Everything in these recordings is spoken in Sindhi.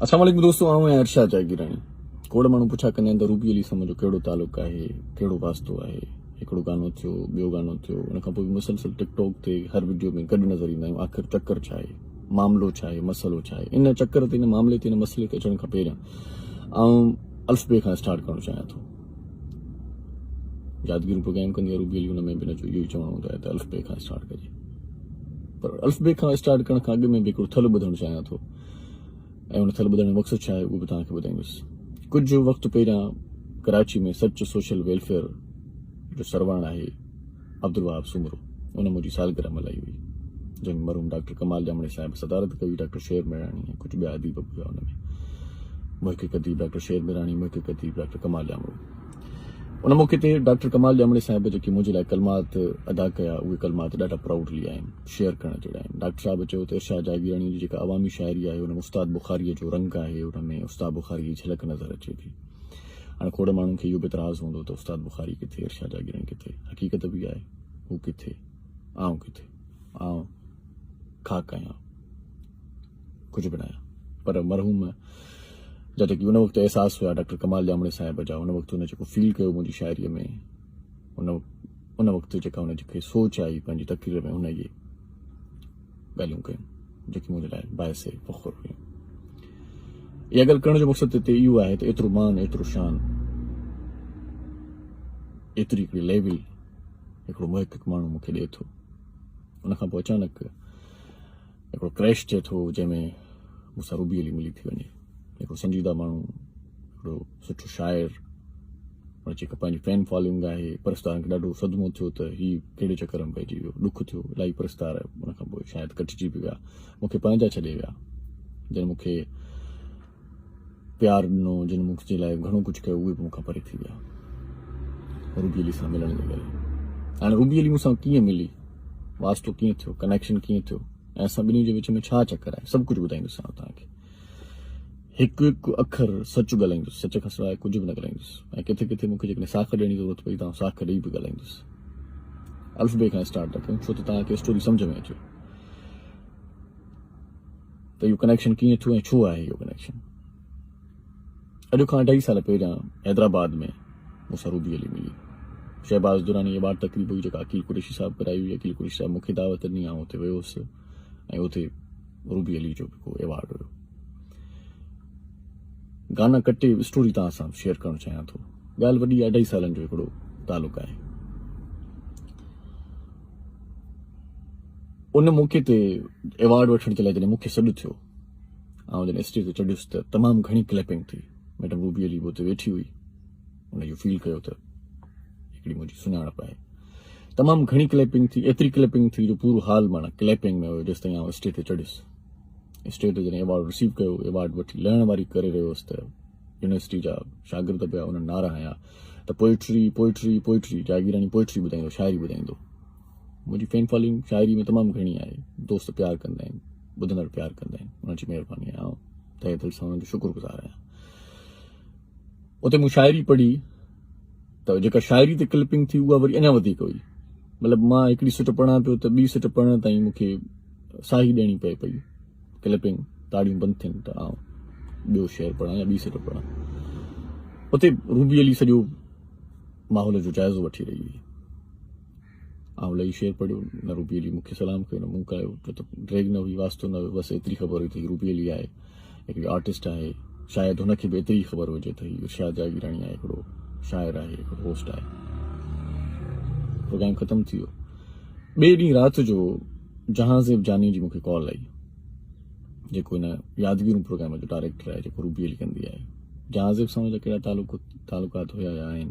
اسلام عليڪم دوستو آئون آهيان ارشاد جاگيراڻي کوڙ ماڻهو پڇا ڪندا آهن ته روبي علي سان منهنجو ڪهڙو تعلق آهي ڪهڙو واسطو آهي هڪڙو گانو ٿيو ٻيو گانو ٿيو ان کان پوء به مسلسل ٽڪ ٽاڪ تي هر وڊيو ۾ گڏ نظر ايندا آهيون آخر چڪر ڇا آهي معاملو ڇا آهي مسئلو ڇا آهي ان چڪر تي ان معاملي تي ان مسئلي تي اچڻ کان پهريان آئون الفبي کان اسٽارٽ ڪرڻ چاهيان ٿو يادگيرون پوء قائم ڪندي روبي علي ان ۾ به نه جو اهو ئي چوڻو هوندو آهي ته الفبي کان اسٽارٽ ڪجي پر الفبي کان اسٽارٽ ڪرڻ کان اڳ ۾ به هڪڙو ٿلهو ٻڌڻ چاهيان ٿو ۽ ان کل ٻڌائڻ جو مقصد ڇا آهي اهو به توهان کي ٻڌائيندس. ڪجهه وقت پهريان ڪراچي ۾ سچ سوشل ويلفيئر جو سرواڻ آهي عبدالوهاب سومرو ان منهنجي سالگرهه ملهائي هئي جنهن ۾ مرحوم ڊاڪٽر ڪمال ڄامڙي صاحب صدارت ڪئي ڊاڪٽر شعيب مهراڻي ۽ ڪجهه ٻيا اديب به هيا ان ۾ محقق اديب ڊاڪٽر شعيب مهراڻي محقق اديب ڊاڪٽر ڪمال ڄامڙو ان موقعي تي ڊاڪٽر ڪمال ڄامڙي صاحب جيڪي منهنجي لاء ڪلمات ادا ڪيا اهي ڪلمات ڏاڍا پرائوڊلي آهن. شيئر ڪرڻ جهڙا آهن. ڊاڪٽر صاحب چيو ته ارشاد جاگيراڻيء جي جيڪا عوامي شاعري آهي، ان ۾ استاد بخاريء جو رنگ آهي، ان ۾ استاد بخاريء جي جهلڪ نظر اچي ٿي. هاڻ کوڙ ماڻهن کي اهو به اعتراض هوندو ته استاد بخاري ڪٿي، ارشاد جاگيراڻي ڪٿي؟ حقيقت به اها آهي، هو ڪٿي، آئون ڪٿي؟ آئون خاڪ آهيان، ڪجهه به ناهيان. پر مرحوم جا جيڪي ان وقت احساس هيا، ڊاڪٽر ڪمال ڄامڙي صاحب جا، ان وقت هن جيڪو فيل ڪيو منهنجي شاعريء ۾، ان ان وقت جيڪا ان کي سوچ آئي پنهنجي تقرير ۾ هن اهي ڳالهيون ڪيون جيڪي منهنجي لاء باعث فخر هيون اها ڳالهه ڪرڻ جو مقصد هتي اهو آهي ته ايترو مان ايترو شان ايتري هڪڙي ليول هڪڙو محقق ماڻهو مونکي ڏئي ٿو ان کان پوء اچانڪ هڪڙو ڪريش ٿئي ٿو جنهن ۾ مون سان روبي علي ملي ٿي وڃي هڪڙو سنجيده ماڻهو هڪڙو سٺو شاعر پر جيڪا پنهنجي فين فالوئنگ آهي پرستارن کي ڏاڍو صدمو ٿيو ته هي ڪهڙي چڪر ۾ پئجي ويو ڏک ٿيو الاهي پرستار ان کان پوء شايد ڪٽجي به ويا مونکي پنهنجا ڇڏي ويا جن مونکي پيار ڏنو، جن مون جي لاء گهڻو ڪجهه ڪيو، اهي به مون کان پري ٿي ويا. روبي علي سان ملڻ جي ڪري. هاڻي روبي علي مون سان ڪيئن ملي، واسطو ڪيئن ٿيو، ڪنيڪشن ڪيئن ٿيو ۽ اسان ٻنهي جي وچ ۾ ڇا چڪر آهي، سڀ ڪجهه ٻڌائيندوسانو توهان کي. هڪ هڪ اکر سچ ڳالهائيندس، سچ کان سواء ڪجهه به نه ڳالهائيندس ۽ ڪٿي ڪٿي مون کي جيڪڏهن ساک ڏيڻ جي ضرورت پئي ته آئون ساک ڏيئي به ڳالهائيندس. الف بي کان اسٽارٽ ٿا ڪيون ڇو ته توهان کي اسٽوري سمجهه ۾ اچي. ته اهو ڪنيڪشن ڪيئن ٿيو ۽ ڇو آهي اهو ڪنيڪشن. اڄ کان اڍائي سال پهريان حيدرآباد ۾ مون سان روبي علي ملي. شهباز دراني ايوارڊ تقريب هئي جيڪا عقيل قريشي صاحب ڪرائي هئي. عقيل قريشي صاحب مونکي دعوت ڏني آئون اتي ويو هوس ۽ اتي روبي علي جو به ڪو ايوارڊ هيو. گانا ڪٽي اسٽوري توهان سان شيئر ڪرڻ چاهيان ٿو. ڳالهه وڏي اڍائي سالن جو هڪڙو تعلق آهي. ان موقعي تي ايوارڊ وٺڻ جي لاء جڏهن مون کي سڏ ٿيو آئون جڏهن اسٽيج تي چڙهيس ته تمام گهڻي ڪليپنگ ٿي ميڊم روبي علي به اتي ويٺي هئي ان اهو فيل ڪيو ته هڪڙي منهنجي سڃاڻپ آهي تمام گهڻي ڪليپنگ ٿي ايتري ڪليپنگ ٿي جو پورو حال مانا ڪليپنگ ۾ هيو جيس تائين آئون اسٽيج تي چڙهيس اسٽيج تي جڏهن ايوارڊ رسيو ڪيو ايوارڊ وٺي لهڻ واري ڪري رهيو هوس ته يونيورسٽي جا شاگرد پيا انهن نعرا هنيا ته poetry poetry poetry Jagirani poetry ٻڌائيندو شاعري ٻڌائيندو منهنجي فين فالوئنگ شاعري ۾ تمام گهڻي آهي دوست پيار ڪندا آهن ٻڌندڙ پيار ڪندا آهن انهن جي مهرباني آهي تهه دل سان انهن جو شڪر گذار آهيان اتي مون شاعري پڙهي ته جيڪا شاعري تي ڪلپنگ ٿي اها وري اڃا وڌيڪ هئي مطلب مان هڪڙي سٽ پڙهان پيو ته ٻي سٽ پڙهڻ تائين مون کي ساهي ڏيڻي پئي پئي ڪلپنگ تاڙيون بند ٿين ته آئون ٻيو شعر پڙهان يا ٻي سٽ پڙهان اتي روبي علي سڄو ماحول جو جائزو وٺي رهي هئي آئون لهي شعر پڙهيو، نه روبي علي مون کي سلام ڪيو نه مون ڪايو، ڇو ته ڊريگ نه هئي، واسطو نه هيو، بس ايتري خبر هئي ته هي روبي علي آهي، هڪڙي آرٽسٽ آهي، شايد هن کي به ايتري ئي خبر هجي ته هي ارشاد جاگيراڻي آهي، هڪڙو شاعر آهي، هڪڙو هوسٽ آهي. پروگرام ختم ٿي ويو. ٻئي ڏينهن رات جو جهانزيب جاني جي مون کي ڪال آئي، جيڪو هن يادگيرون پروگرام جو ڊائريڪٽر آهي، جيڪو روبي علي ڪندي آهي. جهانزيب سان هن جا ڪهڙا تعلقات هيا يا آهن؟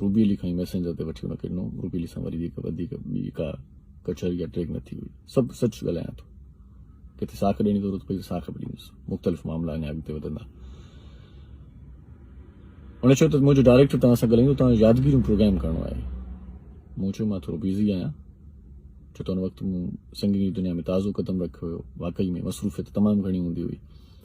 روبيلي کان ئي ميسينجر تي وٺي ان کي ڏنو هو. روبيلي سان وري به وڌيڪ ٻي ڪا ڪچهري يا ٽيگ نه ٿي هئي. سڀ سچ ڳالهايان ٿو. ڪٿي ساک ڏيڻ جي ضرورت پئي ته ساک به ڏيندس. مختلف معاملا اڃا اڳتي وڌندا. هن چيو ته منهنجو ڊائريڪٽر توهان سان ڳالهائيندو. توهان کي يادگيريون پروگرام ڪرڻو آهي. مون چيو مان ٿورو بيزي آهيان. ڇو ته ان وقت مون سنگنگ جي دنيا ۾ تازو قدم رکيو هيو. واقعي ۾ مصروفيت تمام گهڻي هوندي هئي.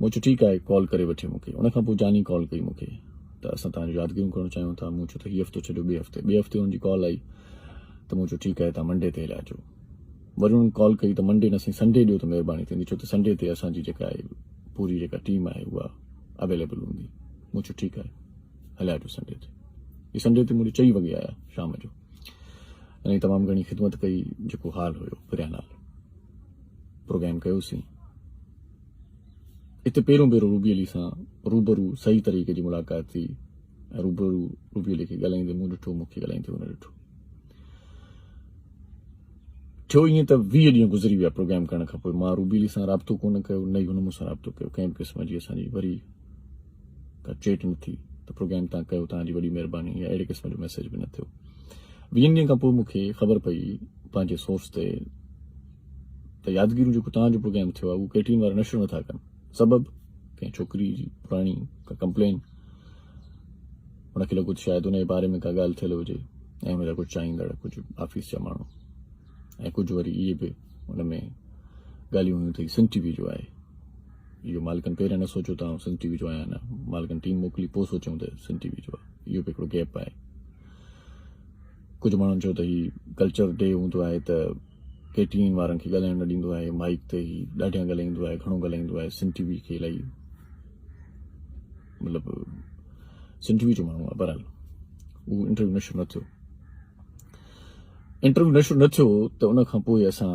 مون چيو ٺيڪ آهي ڪال ڪري وٺي مون کي ان کان پوء جاني ڪال ڪئي مون کي ته اسان تهان جون يادگيرون ڪرڻ چاهيون ٿا مون چيو ته هي هفتو ڇڏيو ٻئي هفتي ٻئي هفتي ان جي ڪال آئي ته مون چيو ٺيڪ آهي تهان منڊي تي هليا اچو وري انهن ڪال ڪئي ته منڊي نه سائين سنڊي ڏيو ته مهرباني ٿيندي ڇو ته سنڊي تي اسان جي جيڪا آهي پوري جيڪا ٽيم آهي اها اويليبل هوندي مون چيو ٺيڪ آهي هليا اچو سنڊي تي هي سنڊي تي مون چئي وڳي آيا شام جو انهن تمام گهڻي خدمت ڪئي جيڪو حال هيو پريان حال پروگرام ڪيوسين. اتي پهريون ڀيرو روبي علي سان روبرو صحيح طريقي جي ملاقات ٿي ۽ روبرو روبي علي کي ڳالهائيندي مون ڏٺو مون کي ڳالهائيندي هن ڏٺو ٿيو ائين ته ويهه ڏينهن گذري ويا پروگرام ڪرڻ کان پوء مان روبي علي سان رابطو ڪونه ڪيو نه ئي هن مون سان رابطو ڪيو ڪنهن به قسم جي اسان جي وري ته چيٽ نه ٿي ته پروگرام تان ڪيو توهان جي وڏي مهرباني يا اهڙي قسم جو ميسيج به نه ٿيو ويهن ڏينهن کان پوء مون کي خبر پئي پنهنجي سورس تي ته يادگيرون جيڪو توهان جو پروگرام ٿيو آهي اهو ڪيٽين وارا نشر نٿا ڪن سبب ڪنهن ڇوڪري جي پراڻي ڪا ڪمپلين ان کي لڳو ته شايد ان جي باري ۾ ڪا ڳالهه ٿيل هجي ۽ ان جا ڪجهه چاهيندڙ ڪجهه آفيس جا ماڻهو ۽ ڪجهه وري اهي به ان ۾ ڳالهيون هيون ته هي سنڌ ٽي وي جو آهي. اهو مالڪن پهريان نه سوچيو ته آئون سنڌ ٽي وي جو آهيان يا نه، مالڪن ٽيم موڪلي پوء سوچيائون ته سنڌ ٽي وي جو آهي. اهو به هڪڙو گيپ آهي. ڪجهه ماڻهن چيو ته هي ڪلچر ڊي هوندو آهي ته ڪي ٽي اين وارن کي ڳالهائڻ نه ڏيندو آهي، مائيڪ تي هي ڏاڍيان ڳالهائيندو آهي، گهڻو ڳالهائيندو آهي، سنڌ ٽي وي کي الائي مطلب سنڌ ٽي وي جو ماڻهو آهي، بهرحال اهو انٽرويو نشر نه ٿيو. انٽرويو نشر نه ٿيو ته ان کان پوء اسان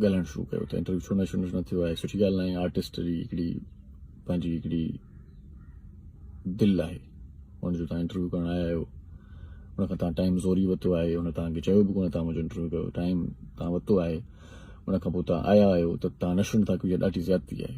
ڳالهائڻ شروع ڪيو ته انٽرويو ڇو نشر نه ٿيو آهي سٺي ڳالهه ناهي آرٽسٽ جي هڪڙي پنهنجي هڪڙي دل آهي ان جو تان انٽرويو ڪرڻ آيا آهيو ان کان تان ٽائيم زوري وتو آهي ان تان کي چيو به ڪونه تان منهنجو انٽرويو ڪيو ٽائيم تان وتو آهي ان کان پوء تان آيا آهيو ته تان نشر نه ٿا ڪيو ڏاڍي زيادتي آهي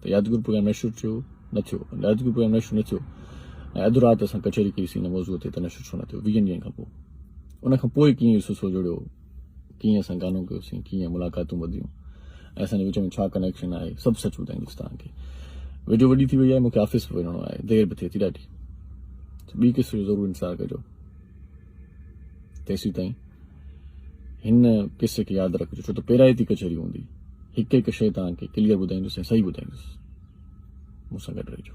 ته يادگير پروگرام نشر ٿيو نه ٿيو يادگير پروگرام نشر نه ٿيو ۽ اڌ رات اسان ڪچهري ڪئيسين ان موضوع تي ته نشر ڇو نه ٿيو ويهن ڏينهن کان پوء ان کان پوء ڪيئن سلسلو جڙيو ڪيئن اسان گانو ڪيوسين ڪيئن ملاقاتون وڌيون ۽ اسان جي وچ ۾ ڇا ڪنيڪشن آهي سڀ سچ ٻڌائيندس تان کي ويڊيو وڏي ٿي وئي آهي مونکي آفيس به وڃڻو آهي دير به ٿئي ٿي ڏاڍي ٻي قسط جو ضرور انتظار ڪجو تيسين تائين هن قصي کي ياد رکجو ڇو ته پيرائتي ڪچهري هوندي هڪ هڪ شيء توهان کي ڪليئر ٻڌائيندس ۽ صحيح ٻڌائيندس مون سان گڏ رهجو